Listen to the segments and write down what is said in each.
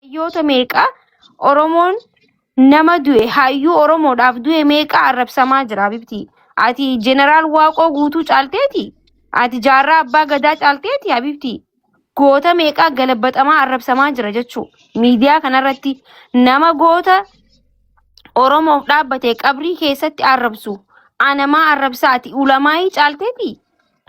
Hayyoota meeqa Oromoon nama du'e hayyuu Oromoodhaaf du'e meeqa arrabsamaa jira Habibtii. Ati jeneraal Waaqoo guutuu caalteeti. Ati jaarraa abbaa gadaa caalteeti Habibtii. Goota meeqa galabaxamaa arrabsamaa jira jechuu. Miidiyaa kanarratti nama goota Oromoof dhaabbate qabrii keessatti arrabsu. Anamaa arrabsaa ati ulamaayii caalteeti.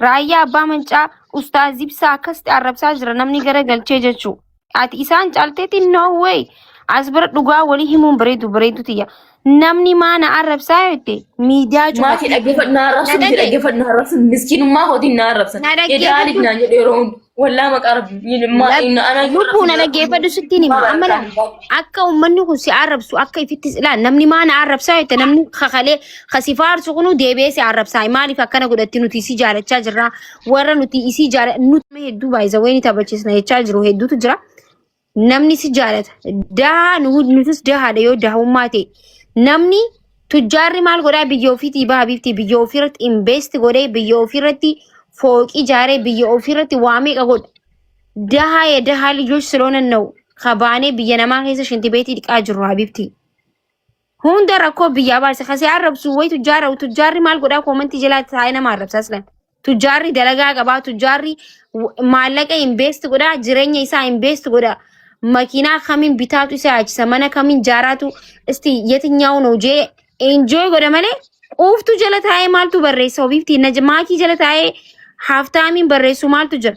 Raayyaa abbaa mancaa ustaaz ibsaa akkasitti arrabsaa jira namni gara galchee jechuu. Ati isaan caalteetti no way. As bira dhugaa walii himuun bareedu bareedu tiyya. Namni maana arrabsaa jette miidiyaa Maatii cufatte. dhaggeeffadhu na arrabsu Na miti dhagge- dhaggeeffadhu na arrabsu miskiinummaa kootiin na arrabsa. Na dhaggeeffadhu. Edaaliif naan jedhu yeroo hundi. Wallaa maqaa rabbii maa inni ana Lubbuu na dhaggeeffadhu sittiin hima. Amma laa akka uummanni kun si arrabsu akka ifittis ilaal namni maana arrabsaa jette namni kakalee kasi faarsu kunu deebi'ee si arrabsaa maaliif akkana godhatti nuti isii jaalachaa jirra warra nuti isii jaala nuti hedduu baay'isa wayini taphachiisna jechaa jiru hedduutu jira. Namni si jaalata. Dahaa nu- nutis dahaadha yoo dahummaa ta'e. Namni tujjaarri maal godhaa biyya ofiitii baha bifti biyya ofiirratti invest godhee biyya ofiirratti fooqii ijaaree biyya ofiirratti waa meeqa godha. Dahaa ya dahaa lijoch siloona na'u kabaanee biyya namaa keessa shinti beetii dhiqaa jirru habibti. Hunda rakkoo biyyaa baarse kasi arrabsu wayi tujjaara tujjaarri maal godhaa koomantii jalaatti taa'ee nama arrabsaa silan. Tujjaarri dalagaa qabaa tujjaarri w- maallaqa invest godhaa jireenya isaa invest godhaa makiinaa kamiin bitaatu isa yaachisa mana kamiin jaaraatu isti yetinyaa'uun hojee enjoy godha malee quuftu jala taa'ee maaltu barreessa ofiifti na maakii jala taa'ee haaftaamiin barreessu maaltu jira.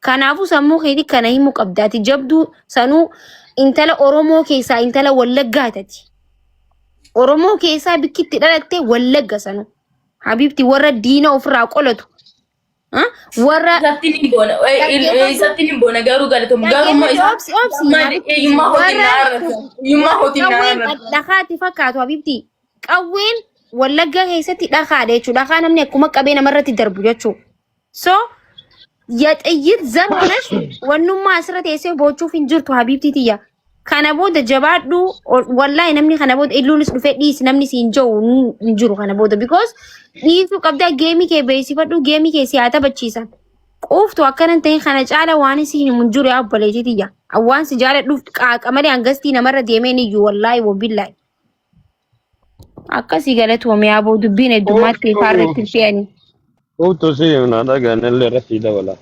Kanaafuu sammuu keetii kana himuu qabda. Ati jabduu sanuu intala Oromoo keessaa intala Wallaggaa tati. Oromoo keessaa bikki itti dhalatte Wallagga sanuu. Habiibti warra diina ofirraa qolatu. Ah, Warra Isatti ni boona. Isatti ni boona garuu galatoom. Garuu immoo isa Obsi, obsi. maali eeyyummaa hojii naa arrata. Eeyyummaa hojii naa Qawween arrata. dhakaatti fakkaatu Habiibti. Qawween Wallaggaa keessatti dhakaadha jechuudha. Dhakaa namni akkuma qabee namarratti darbu jechuudha. So yaxayyit zan honas wannummaa asirra teessee boochuuf hin jirtu habiibtii tiyya. Kana booda jabaadhu wallaahi namni kana booda illuunis dhufee dhiisi namni si hin jiru hin jiru kana booda because dhiisuu qabdaa geemii kee beeksifadhu geemii kee si haa taphachiisan. Quuftu akkanan ta'in kana caala waan si hin hin jiru yaa obboleetii tiyya. Waan si jaaladhuuf qaaqa malee hangastii namarra deemeen iyyuu wallaahi wabillaahi. Akkasii galatoomi aboo dubbiin heddummaatti Ooftuu ifaarratti hin fe'ani. ooftuu si himnaa dhagaan illee irratti dabala.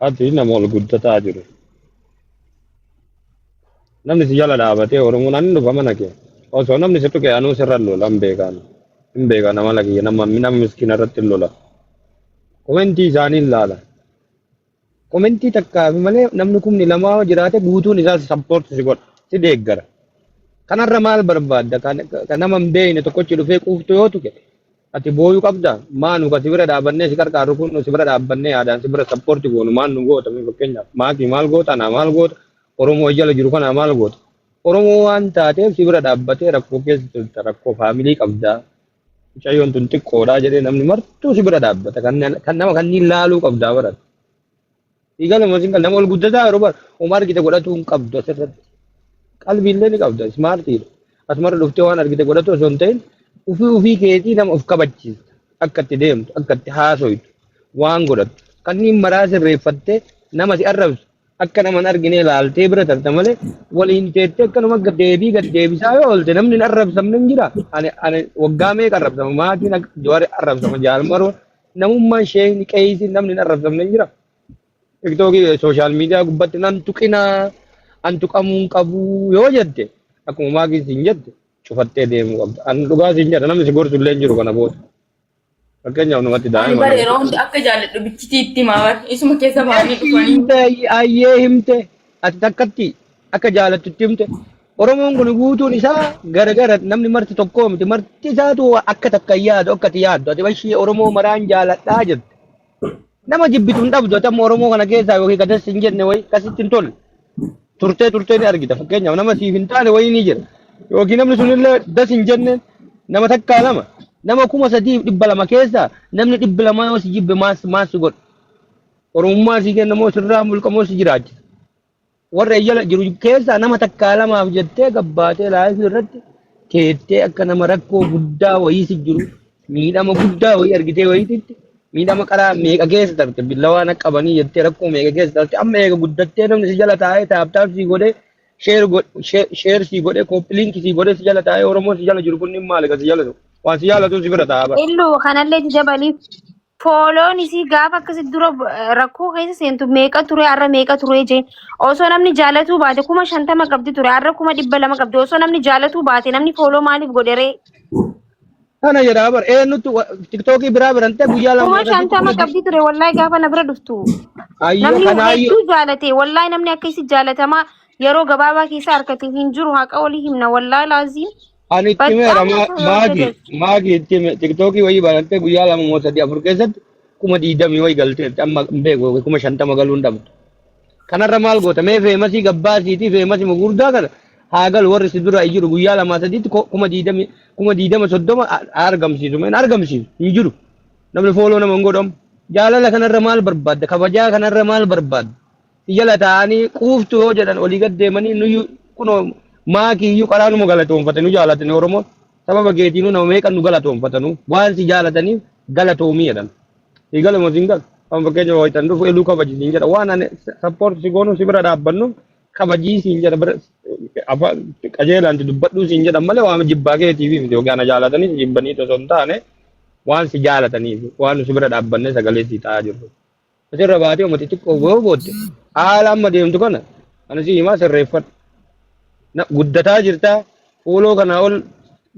Ati nama ol guddataa jiru. Namni si jala dhaabatee Oromoon ani dhufa mana kee. Osoo namni si tuqe anuu sirra lola hin beekaan. Hin beekaan amala kiyya nama nama miskiina irratti lola. Komentii isaanii ilaala. Komentii takka malee namni kumni lama yoo jiraate guutuun isaa si support si godha. Si deeggara. Kanarra maal barbaadda? Kan kan nama hin beekne tokkochi dhufee quuftuu yoo tuqe ati booyuu qabda. Maa nu kasi bira dhaabannee si qarqaaru kun si bira dhaabbannee yaadaan si bira support goonu maal nu goota mee fakkeenyaaf maakii maal goota anaa maal goota Oromoo jala jiru kanaa maal goota. Oromoo waan taateef si bira dhaabbatee rakkoo keessa jirta rakkoo faamilii qabda. Mucayyoon tun xiqqoodhaa jedhee namni martuu si bira dhaabbata. Kan kan nama kanniin laaluu qabdaa baran. Dhiigaluma isin kan nama ol guddataa yeroo bara homaa argite godhatuu hin qabdu asirratti. Qalbiillee ni qabda ismaartiidha. Asumarra dhuftee waan argite godhatu osoo hin ta'in ofii ofii keetii nama of kabachiista. Akka itti deemtu, akka itti haasoytu, waan godhattu. Kanniin maraa sirreeffattee nama si arrabsu akka naman arginee laaltee bira tarta malee waliin teettee akkanuma akka deebii gad deebisaa yoo oolte namni hin arrabsamne hin jira. Ani ani waggaa meeqa arrabsama maatiin akka jawari arrabsama jaalmaroo namummaan sheekni qeeysi namni hin arrabsamne hin jira. Tiktookii sooshaal miidiyaa gubbatti nan tuqinaa an tuqamuu hin qabu yoo jette akkuma maakiin siin jette cufattee deemuu qabda. Ani dhugaa siin jedha namni si gorsu illee hin jiru kana booda. Fakkeenyaaf namatti Ani daa'ima bara yeroo hunda akka jaalladhu bichitii itti himaa bara. Isuma keessa baanii Eshi dhufanii. himte ayyee himte ati takkatti akka jaalattutti himte Oromoon kun guutuun isaa garagara namni marti tokkoo miti marti isaatu akka takka hin yaadu akka ati yaaddu ati bashii Oromoo maraan jaaladhaa jirti Nama jibbitu hin dhabdu ati amma Oromoo kana keessaa yookiin gadas hin jenne wayii akkasitti hin tolle. Turtee turtee ni argita fakkeenyaaf nama siif hin taane wayii ni jira. Yookiin namni sunillee das hin jenne nama takkaa lama nama kuma sadii fi dhibba lama keessaa namni dhibbi lama yoo si jibbe maas maas si godha. Oromummaa si kenna moo sirraa mulqa moo si jiraachisa. Warra jala jiru keessaa nama takkaa lamaaf jettee gabbaatee laayifii irratti teettee akka nama rakkoo guddaa wayiisi jiru miidhama guddaa wayii argitee wayiititti miidhama qaraa meeqa keessa tarte billawaa na qabanii jettee rakkoo meeqa keessa tarte amma eega guddattee namni si jala taa'ee taaptaap sii godhee sheer go- shee- sheer sii godhee kooppiliinki sii godhee si jala taa'ee oromoo si jala jiru kunniin maali kan si jala jiru waan si jaalatu si bira taa'aa bara. Illu kanallee jajabaliif Fooloon isii gaafa akkasi dura eh, rakkoo keessa seentu meeqa ture har'a meeqa ture jee osoo namni jaalatuu baate kuma shantama qabdi ture har'a kuma dhibba lama qabdi osoo namni jaalatuu baate namni fooloo maaliif godheree Kana jedhaa bar eenyutu tiktookii biraa birantee guyyaa lama kuma irratti shantama kuma qabdi ture wallahi gaafa na bira dhuftu ayyoo namni kana ayyoo hedduu jaalate wallahi namni akka isi jaalatamaa yeroo gabaabaa keessa harkate hin jiru haqa olii himna wallahi laaziin Ani itti meera Baqqaanni kun waan maagi gajeelchu. maagi itti me- tiktookii wayii banattee guyyaa lama moo sadii afur keessatti kuma diidamii wayii galteetti amma hin beeku kuma shantama galuu hin dhabdu. Kanarra maal goota mee feemasii gabbaasiitii feemasii gurguddaa kana haa galu warri si dura jiru guyyaa lamaa sadiitti ko- kuma diidamii kuma diidama soddoma a- a- argamsiisu mee hin argamsiisu hin jiru namni fooloo nama hin godhamu jaalala kanarra maal barbaadda kabajaa kanarra maal barbaadda si jala taa'anii quuftu yoo jedhan olii gad deemanii nuyyu kunoo maakii iyyuu karaa numa galatoomfate nu jaalatani Oromoon sababa keetiinuu nama meeqan nu galatoomfatanu waan si jaalataniif galatoomii jedhan. Si galuma siin galu. Kan fakkeenya wayitan dhufu eluu kabaji siin jedha. Waan ani sappoorti si goonu si bira dhaabbannu kabajii siin jedha. Bira afaan qajeelaan si dubbadhuu siin jedhan malee waan jibbaa keetiif miti yookiin ana jaalatanii si jibbanii osoo hin taane waan si jaalataniif waan nu si bira dhaabbanne sagalee si ta'aa jirru. Asirra baatee uummata xiqqoo gahuu booda haala amma deemtu kana ani si himaa sirreeffadhu. Na- Guddataa jirtaa fuuloo kanaa ol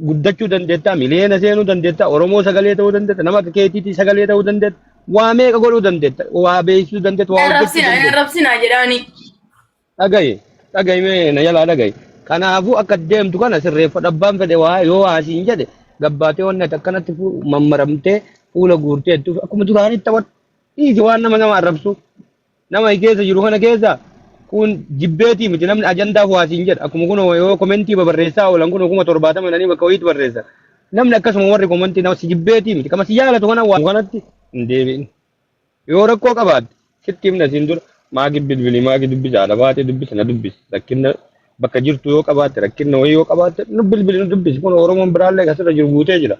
guddachuu dandeettaa miliyoona seenuu dandeettaa Oromoo sagalee ta'uu dandeetta nama akka keetiitii sagalee ta'uu dandeetta waa meeqa godhuu dandeetta waa beeksisuu dandeetta waa hojjechuu Arrabsina, dandeetta. arrabsina jedhaani. dhagayi dhagayi mee na jalaa dhagayi kanaafuu akka deemtu kana sirreeffadhu abbaan fedhe waa yoo waa siin jedhe gabbaatee wanni ati akkanatti fu- mammaramtee fuula guurtee jettu akkuma duraanii taphadhu dhiisi waan nama nama arrabsu nama keessa jiru kana keessa kun jibbeetii miti namni ajandaaf waa siin jedha akkuma kun yoo komentii babarreessaa oolan kun kuma torbaatama jedhanii bakka wayiitti barreessa namni akkasuma warri komentii nama si jibbeetii miti kama si jaalatu kana waa kanatti hin deebiin. Yoo rakkoo qabaatte sitti himna siin dura maaki bilbili maaki dubbisa haadha baatee dubbisa na dubbisi rakkinna bakka jirtu yoo qabaatte rakkinna wayii yoo qabaatte nu bilbili nu dubbisi kun oromoon biraallee kasirra jiru guutee jira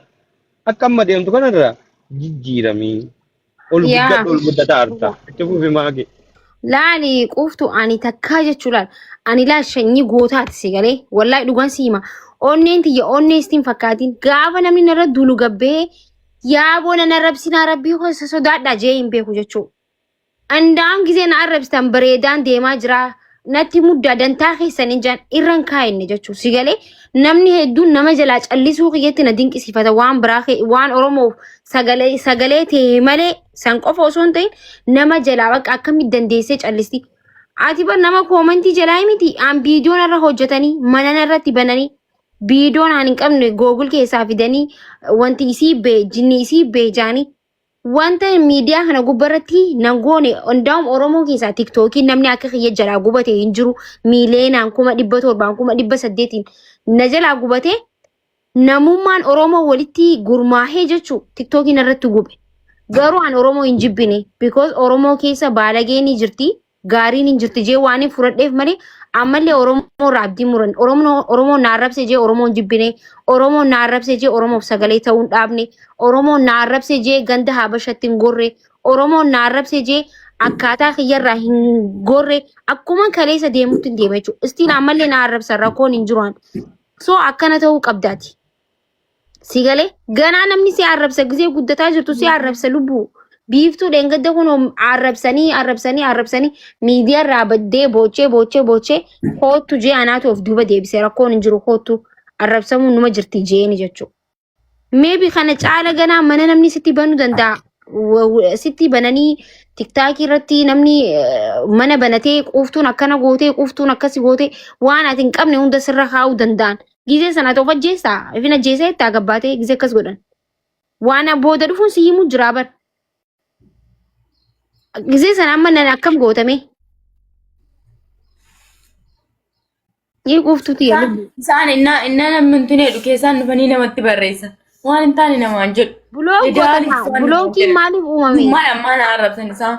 akka amma deemtu kanarra jijjiiramii ol Yaa. guddadhu ol guddataa arta itti fufi maaki Laali quuftu ani takkaa jechuu laal. Ani laal shanyii gootaati si galee. Wallahi dhugaan si hima. Onneen tiyya onnee istiin fakkaatiin. Gaafa namni narra duulu gabbee Yaa boona na rabsinaa rabbii koo isa sodaadha jee hin beeku jechuu. Andaan gisee na arrabsitan bareedaan deemaa jiraa. Natti muddaa dantaa keessan hin jaan irran kaa'inne jechuu. Si galee namni hedduun nama jalaa callisuu kiyyatti na dinqisiifata waan biraa kee waan Oromoof sagalee sagalee ta'e malee san qofa osoo hin ta'in nama jalaa bakka akkamitti dandeessee callisti. Ati bar nama koomantii jalaa miti aan viidiyoon irra hojjetanii manana irratti bananii Biidoon aan hin qabne googul keessaa fidanii wanti isii bee jinni isii bee jaanii. Wanta miidiyaa kana gubbarratti nan goone hundaa'um Oromoo keessaa tiktookii namni akka kiyya jalaa gubate hin jiru miileenaan kuma dhibba torbaan kuma dhibba saddeetiin na jalaa gubate namummaan Oromoo walitti gurmaahee jechuu tiktookiin irratti gube. Garuu an Oromoo hin jibbine because Oromoo keessa baalagee ni jirti gaariin hin jirti jee waan hin fudhadheef malee ammallee Oromoo irraa abdii muran Oromoo na arrabse jee Oromoo hin jibbine Oromoo na arrabse jee Oromoof sagalee ta'uu hin dhaabne Oromoo na arrabse jee ganda Habashatti hin gorre Oromoo na arrabse jee akkaataa kiyyarraa hin gorre akkuma kaleessa deemutti hin deema jechuudha. Istiin ammallee na arrabsa rakkoon hin jiru. So akkana ta'uu qabdaati. Si galee ganaa namni si arrabsa gisee guddataa jirtu si arrabsa lubbuu. Biiftuu dheengadda kun arrabsanii arrabsanii arrabsanii miidiyaa irraa baddee boochee boochee boochee koottu jee anaatu of duuba deebise rakkoon hin jiru koottu arrabsamuun numa jirti jeeni jechuudha. Meebi kana caala ganaa mana namni sitti banuu danda'a. Wa- wa- Sitti bananii tiktaakii irratti namni eh, mana banatee quuftuun akkana gootee quuftuun akkasi gootee waan ati hin qabne hunda sirra kaa'uu danda'an. Gizee sana ati of ajjeessaa? Ifin ajjeesee itti agabbaatee gizee akkas godhan. Waan booda dhufuun si himu jiraa bar. Gizee sana amma nan akkam gootame? Ni quuftuti yaa lubbu. Isaan innaa innaa namni hin tuneedhu keessaan dhufanii namatti barreessan. Waan hin taane namaan jedhu. Buloo Idaan gootama. isaan Bulookiin maaliif uumame? Maal ammaa na arrabsan isaan.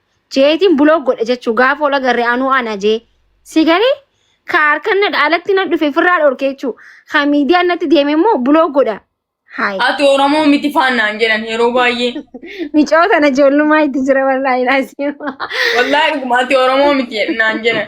jeetiin buloo godhe jechuu gaafa ola garree anuu ana jee si galee ka harkan na dhaalatti na dhufe firraa dhorke jechuu ka miidiyaan natti deeme immoo buloo godha haay Ati Oromoo miti faannaan jedhan yeroo baay'ee. micoo tana ijoollumaa itti jira wallaahi laasiima Wallaahi dhuguma ati Oromoo miti naan jedhan.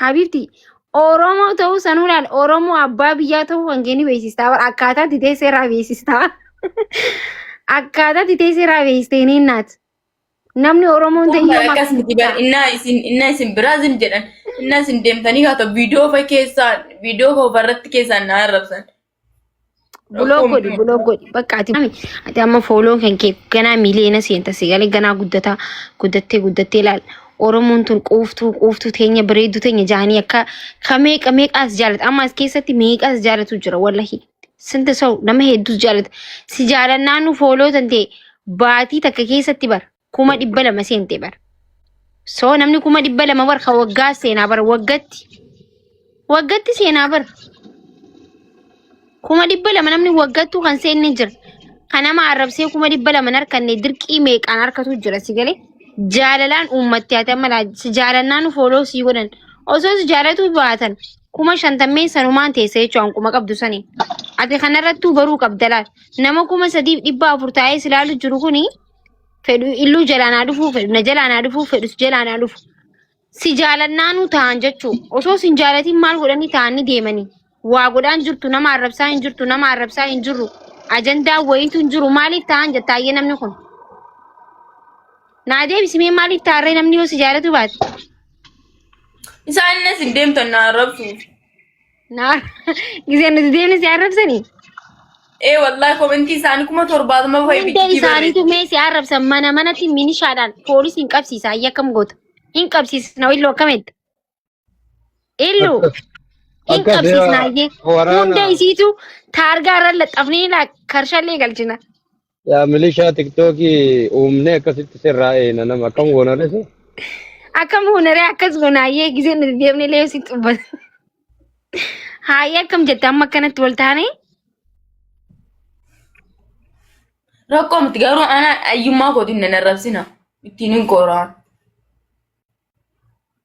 Habiibti Oromoo ta'uu sanuu laal Oromoo abbaa biyyaa ta'uu kan kee ni beeksistaa bara akkaataa itti teessee irraa beeksistaa. Akkaataa itti teessee irraa beeksistee ni naat. Namni Oromoon ta'e Amma yooma akkas miti bar innaa isin innaa isin biraa isin jedhan innaa isin deemtanii kaata viidiyoo fa keessaan viidiyoo koo barratti keessaan na arrabsan Buloo godhi buloo godhi bakka ati ati amma fooloon kan kee ganaa miliyoona seenta sigalee ganaa guddataa guddattee guddattee laal Oromoon tun quuftuu quuftuu teenya bareedduu teenya jaanii akka ka meeqa meeqaas jaalata amma as keessatti meeqaas jaalatu jira wallahi sinta sa'u nama hedduus jaalata si jaalannaanu fooloo tantee baatii takka keessatti bara kuma dhibba lama seente bara. So namni kuma dhibba lama bara ka waggaa seenaa bara waggatti. Waggatti seenaa bara. Kuma dhibba lama namni waggattuu kan seenne jira. Kan nama arrabsee kuma dhibba lama hin harkanne dirqii meeqaan harkatu jira si galee. Jaalalaan uummatti haa ta'an malaa si jaalannaan fooloo sii godhan. Osoo si jaalatuu baatan kuma shantammeen sanumaan teessa jechuun kuma qabdu sani. Ati kanarrattuu baruu qabda laal. Nama kuma sadiif dhibba afur taa'ee si ilaalu jiru kuni fedhu illuu jalaanaa dhufuu fedhu na jalaanaa dhufuu fedhu si jalaanaa dhufu si jaalannaanuu ta'an jechuu osoo sin jaalatiin maal godhanii ta'anii deemanii waa godhaan jirtu nama arrabsaa hin jirtu nama arrabsaa hin jirru ajandaa wayiitu hin jiru maaliif ta'an jettaayyee namni kun naa deebisimee maaliif taarree namni yoo si jaalatu baate Isaan innis hin deemtan na arrabsuuf. Naa gisee nuti deemne si arrabsani. Ee wallahi komentii isaanii kuma torbaatama fa'i Hunda bichitii isaaniitu barreessi. mee si arrabsan mana manatti minishaadhaan poolisiin qabsiisa ayya akkam goota. Hin qabsiisna illoo akkamitti? Illuu hin Akka qabsiisna seera ayyee. waraana- Hunda isiitu taargaa irra laxxafnee laa karshallee galchina. Yaa milishaa tiktookii uumnee akkasitti sirraa eeyna nama akkam goona resu. Akkam hunaree akkas gonaayyee gisee nuti deemnee lee si xubbata. Haayee akkam jette amma akkanatti wal taane rakkoo miti garuu ana ayyummaa kootiin nan arrabsina ittiin hin kooraan.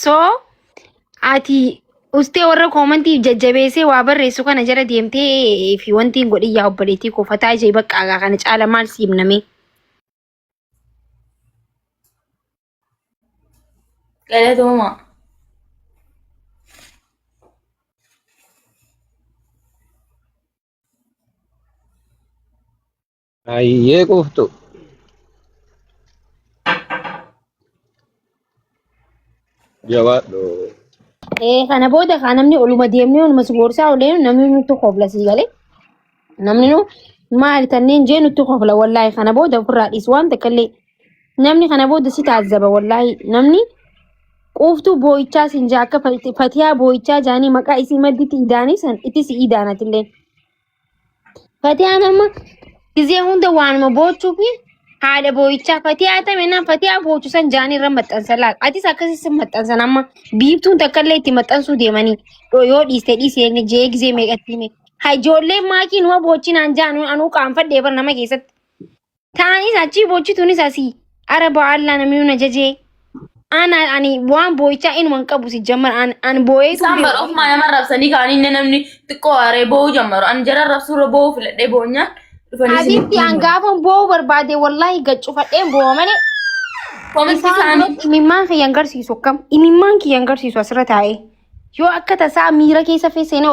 So ati ustee warra koomantiif jajjabeessee waa barreessu kana jala deemtee fi wanti hin godhin yaa obboleettii koo fataa ishee bakka agaa kana caala maal si himnamee. Galatooma. Hayyee quuftu. Jabaadhu. Eh, kana booda kaa namni oluma deemnee oluma si gorsaa olee namni nutti kofla sii galee namni nu maali tanneen jee nutti kofla wallaahi kana booda ofirraa dhiis waan takka illee namni kana booda si taazzaba wallaahi namni quuftuu boo'ichaa siin jaa akka fatiyaa boo'ichaa jaanii maqaa isii madditti idaanii san itti si idaanatillee. Fatiyaan amma gizee hunda waanuma boochuu fi haadha boo'ichaa fatiyaa tame naan fatiyaa boochu san jaanii irra maxxansa laal. Atis akkasii sin maxxansan amma biiftuun takka illee itti maxxansuu deemanii Dho- yoo dhiiste dhiise inni jee gizee meeqatti hime. Ha ijoolleen maakii numa boochinaan jaanu anuu qaanfadhee bara nama keessatti. Ta'anis achii boochituunis asii. Ara ba'aallaa namni na jajee. Ana ani waan boo'ichaa inuma hin qabu si jammar an an boo'eetu Isaan bara ofumaa nama rabsanii ka'anii inni namni xiqqoo aaree boo'uu jammaru. Ani jara rabsuu irra boo'uu filadhee boonyaan dhufanii isin Asitti an gaafan boo'uu barbaade wallaahi gaccufadheen boo'a malee Komitti isaan isaanii biratti imimmaan kiyya hin garsiisu akkam imimmaan kiyya hin garsiisu asirra taa'ee yoo akka tasaa miira keessa feeseenee